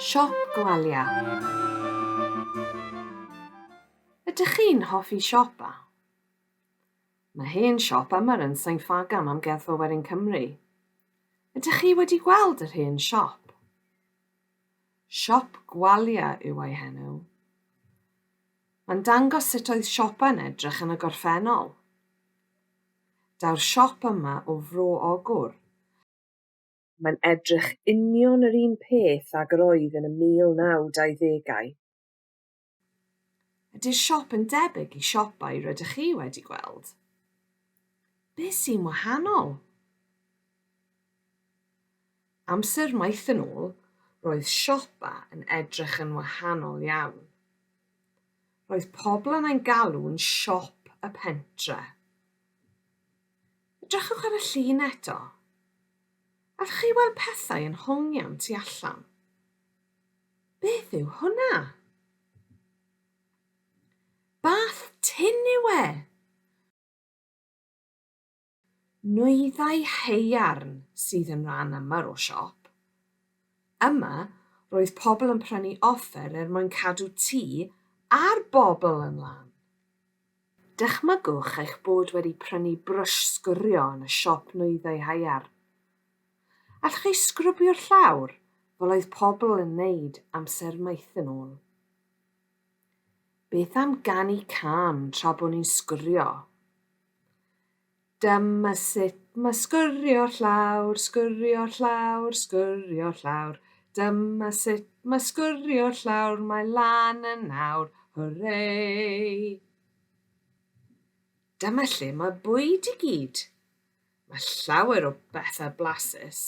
Siop Gwalia Ydych chi'n hoffi siopa? Mae hen siop Ymer yn Sain Ffagan, Amgueddfa Werin Cymru. Ydych chi wedi gweld yr hen siop? Siop Gwalia yw ei henw. Mae'n dangos sut oedd siopa yn edrych yn y gorffennol. Daw'r siop yma o Fro Ogwr. Mae'n edrych union yr un peth ag yr oedd yn y 1920au. Ydy'r siop yn debyg i siopau rydych chi wedi gweld? Be sy'n wahanol? Amser maith yn ôl, roedd siopa yn edrych yn wahanol iawn. Roedd pobl yn ein galw'n siop y pentre. Edrychwch ar y llun eto. Allwch chi weld pethau yn hongian tu allan? Beth yw hwnna? Bath tin yw e! Nwyddau haearn sydd yn rhan aml o siop. Yma, roedd pobl yn prynu offer er mwyn cadw tŷ a'r bobl yn lân. Dychmygwch eich bod wedi prynu brwsh sgwrio yn y siop nwyddau haearn. Allwch chi sgrwbio'r llawr fel oedd pobl yn wneud amser maith yn ôl? Beth am ganu cân tra bod ni'n sgwrio? Dyma sut mae sgwrio llawr, sgwrio llawr, sgwrio llawr. Dyma sut mae sgwrio llawr, mae lan yn nawr, hwrei! Dyma lle mae bwyd i gyd. Mae llawer o bethau blasus.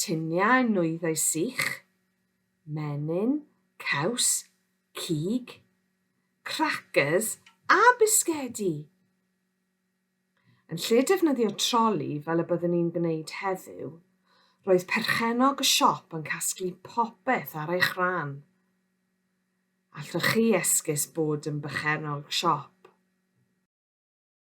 Tuniau nwyddau sych, menyn, caws, cig, cracyrs a bisgedi! Yn lle defnyddio troli fel y byddwn ni'n gwneud heddiw, roedd perchennog y siop yn casglu popeth ar eich rhan. Allwch chi esgus bod yn berchennog siop?